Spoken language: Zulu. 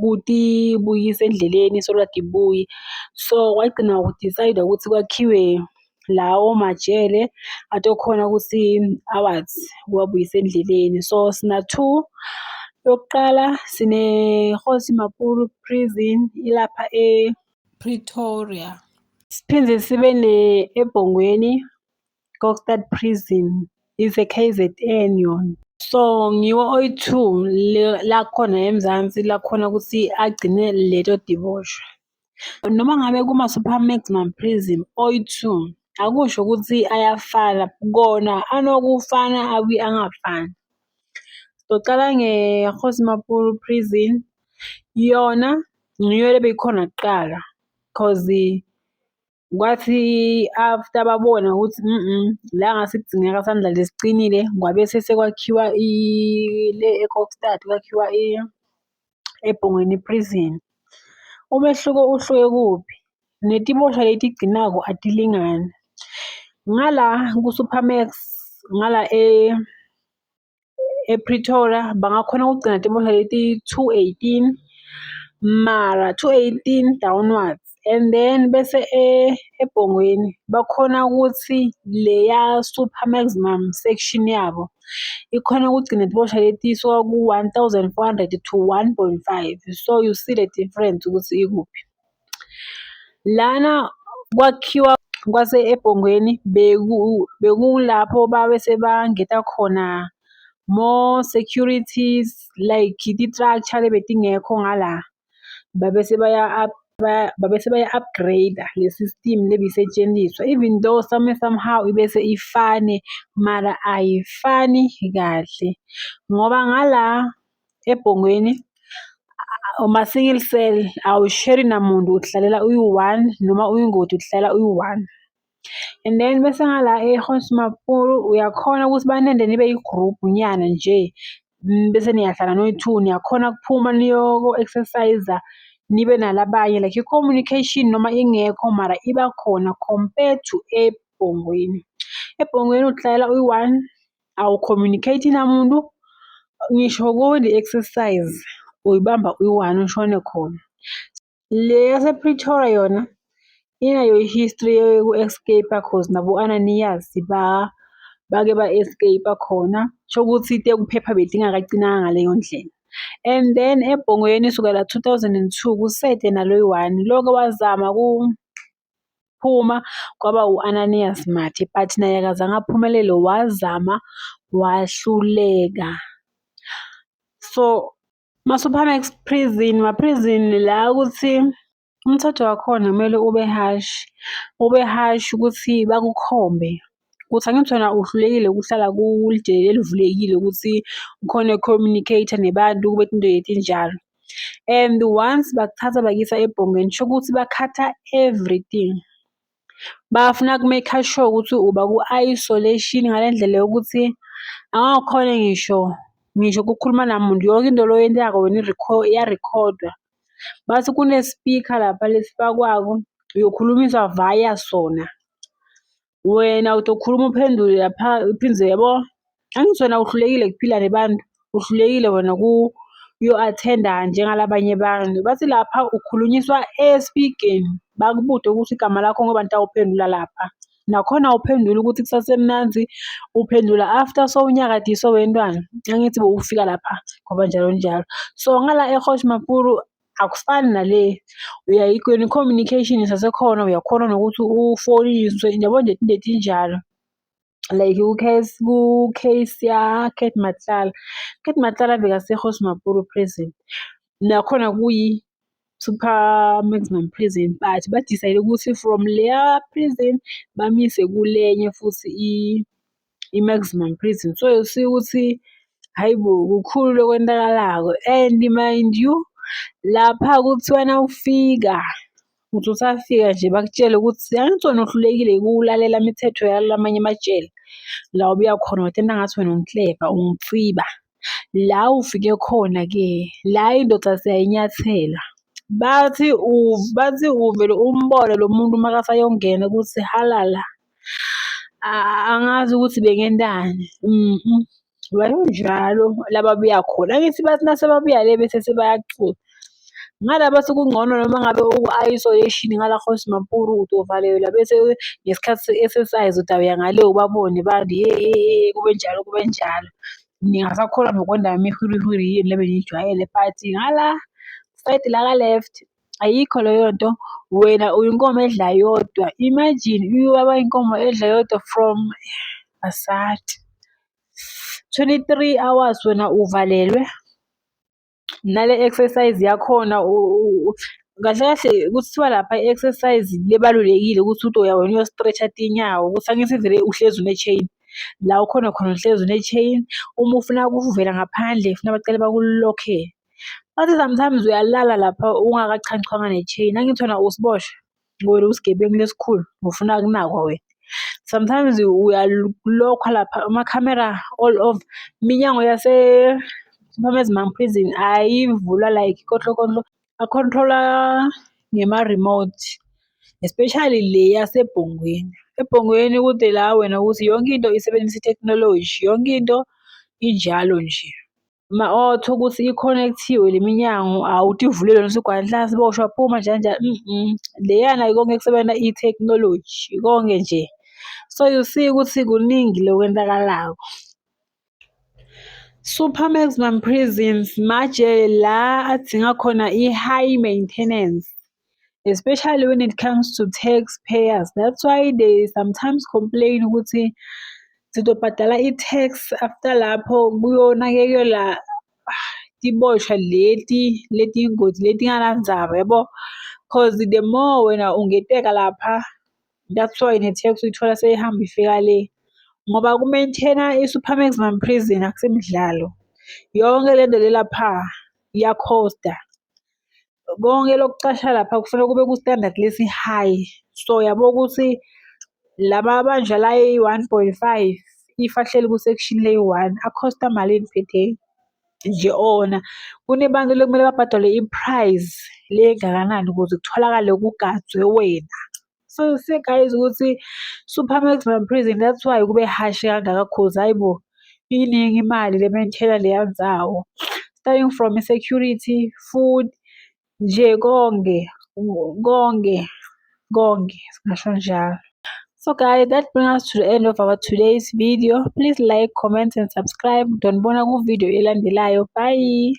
buti buyisa endleleni so kade ibuyi so wagcina udicayida ukuthi kwakhiwe lawo majele atokhona ukuthi awathi kuwabuyisa endleleni so sina-two yokuqala sine-Kgosi Makhulu prison ilapha e-Pretoria siphinde sibe ne-eBhongweni Kokstad Prison is a KZN yona. So ngiwo oyi-two lakhona eMzansi lakhona ukuthi agcine leto diboshwa. Noma ngabe kuma-super maximum prison oyi-two akusho ukuthi ayafana kona anokufana abuye angafani. Socala nge-Kgosi Maphumulo Prison yona ngiyo lebeyikhona kuqala cause Kwathi after babona ukuthi la ngase kudingeka sandlale siqinile kwabe sesekwakhiwa le e-Kokstad kwakhiwa eBhongweni Prison. Umehluko uhluke kuphi? Netibosha letigcinako atilingani. Ngala kuSupermax ngala ePretoria bangakhona ukugcina timodla leti two eighteen mara two eighteen downwards and then bese eBhongweni bakhona ukuthi leya super maximum section yabo ikhona ukugcina timodla leti suka ku-one thousand four hundred to one point five so you see the difference ukuthi ikuphi. Lana kwakhiwa kwase eBhongweni bekulapho babe sebangeta khona more securities like ti-structure lebetingekho ngala. Babe sebaya babe sebaya-upgrade-a le-system lebisetshenziswa even though some way somehow ibe seyifane mara ayifani kahle ngoba ngala. ebhongweni uma-single cell awusheri namuntu uhlalela uyi-one noma uyingoti uhlalela uyi-one and then bese ngala e-hosmapuru uyakhona ukuthi banende nibe yi-group nyana nje mm, bese niyahlala noyi-two niyakhona kuphuma niyoko-exercise nibe nalabanye like i-communication noma ingekho mara iba khona compared to ebhongweni ebhongweni uhlalela uyi-one awu-communicate namuntu, ngisho kule exercise uyibamba uyi-one ushone khona. Le yasePretoria yona inayo i-history yoku-escape-a cause nabo-Ananias bake ba-escape-a khona. Kushukuthi te ukuphepha bedingakacinanga ngaleyo ndlela. And then eBhongweni sukela two thousand and two kusete nalo yi-one. Lo oke wazama . Phuma kwaba u-Ananias Mathe but naye akazange aphumelele wazama wahluleka. So masuphana prison ma-prison la ukuthi umthetho wakhona kumele ube harsh, ube harsh ukuthi bakukhombe. ukuthi angithi wena uhlulekile ukuhlala kulidele elivulekile ukuthi ukhona communicate nebantu kube into yethu injalo and once bakuthatha bakuyisa ebhongeni sho ukuthi bakhatha everything bafuna ku-make sure ukuthi uba ku-isolation ngale ndlela yokuthi angakhona ngisho ngisho kukhuluma namuntu yonke into loyenzako wena iyarekhodwa. Bathi kune-speaker lapha lesifakwako, uyokhulumiswa via sona. Wena utokhuluma uphendule lapha uphindze yabo. Angithi wena uhlulekile kuphila nebantu, uhlulekile wena ku uyo-athenda njengalabanye abantu. Bathi lapha ukhulunyiswa espikeni, bakubude ukuthi igama lakho ngoba nitawuphendula lapha. Nakhona awuphenduli ukuthi kusasemnandi, uphendula after sowunyakadiswe wentwana. Angithi bowufika lapha ngoba njalo njalo. So ngala eHosh Makuru akufani nale uyayikweni communication isasekhona uyakhona nokuthi ufoniswe yabo nje into etinjalo like ucase ku-case ya-cat matlala cat matlala bekasehosh mapuru prison nakhona kuyi super maximum prison but badicide ukuthi from leya prison bamise kulenye futhi i-maximum prison so see ukuthi hhayi bo kukhulu lokwenzakalako and mind you lapha kuthiwa nawufika uthi usafika nje bakutshele ukuthi angithi wena uhlulekile ukulalela imithetho yalamanye amajele la obuya khona wathena ngathi wena unkleva umtsiba. La ufike khona-ke la indoda siyayinyathela. Bathi bathi uvele umbone lo muntu makasayongena ukuthi halala. Angazi ukuthi bengentani wayonjalo la babuya khona. Angithi bathi nase babuya le bese sebayacula. Ngalaba sekungcono noma ngabe uku-isolation ngala Kgoshimapuru uzovalelwa bese ngesikhathi se-exercise udawuya ngale ubabone bande hhee kube njalo kube njalo. Ningasakholwa nokwenda imihurihuri yenu le beniyijwayele but ngala sayidi laka left ayikho leyo nto. Wena uyinkomo edla yodwa, imagine ubaba inkomo edla yodwa from asadi. Twenty-three hours wena uvalelwe. nale exercise yakhona kahle kahle kuthiwa lapha i-exercise lebalulekile ukuthi uthi uya wena uyo-stretch-a tinyawo ukuthi angithi vele uhlezi une-chain la ukhona khona uhlezi une-chain uma ufuna ukuvela ngaphandle funa bacele bakulokhe bathi sometimes uyalala lapha ungakachanchwanga ne-chain angithi wena usiboshwa. Wena usigebengu lesikhulu ngifuna kunakwa wena. Sometimes uyalokhwa lapha amakhamera all over. Iminyango yase Mamezimam prison ayivulwa like kohlokolo a-control-wa ngema-remote. Especially le yaseBhongweni. EBhongweni kude la wena ukuthi yonke into isebenzisa ithekhinoloji, yonke into injalo nje. ma-auto ukuthi i-connect-iwe le minyango awuthi ivulile lona usigwadla siboshwa phuma njani njani leyana konke kusebenza i-technology konke nje. So you see ukuthi kuningi lokwenzakalayo. Super maximum prisons majele la adinga khona i-high maintenance. especially when it comes to tax payers that's why they sometimes complain ukuthi sizobhadala i-tax after lapho kuyonakekela tiboshwa leti letiyingozi letinganandzaba yabo cause the more wena ungeteka lapha that's why ne-tax uyithola seyihamba ifika le ngoba ku-maintaina i-super maximum prison akusemidlalo yonke le nto lelapha iyakhosta Konke lokucasha lapha kufanele kube ku-standard lesi-high. So yabo ukuthi laba bandla la eyi-one point five, if ahleli ku-section leyi-one akhosta malini per day? Nje ona kunebantu ekumele babhadalwe i-price le engakanani ukuze kutholakale kugadwe wena. So you see guys ukuthi super maximum prison that's why kube harsh kangaka cause hayibo iningi imali le maintainer leya ndzawo starting from security food nje konke konke konke singasho njalo So guys, that brings us to the end of our today's video. Please like, comment and subscribe. Don't bona ku video elandelayo. Bye.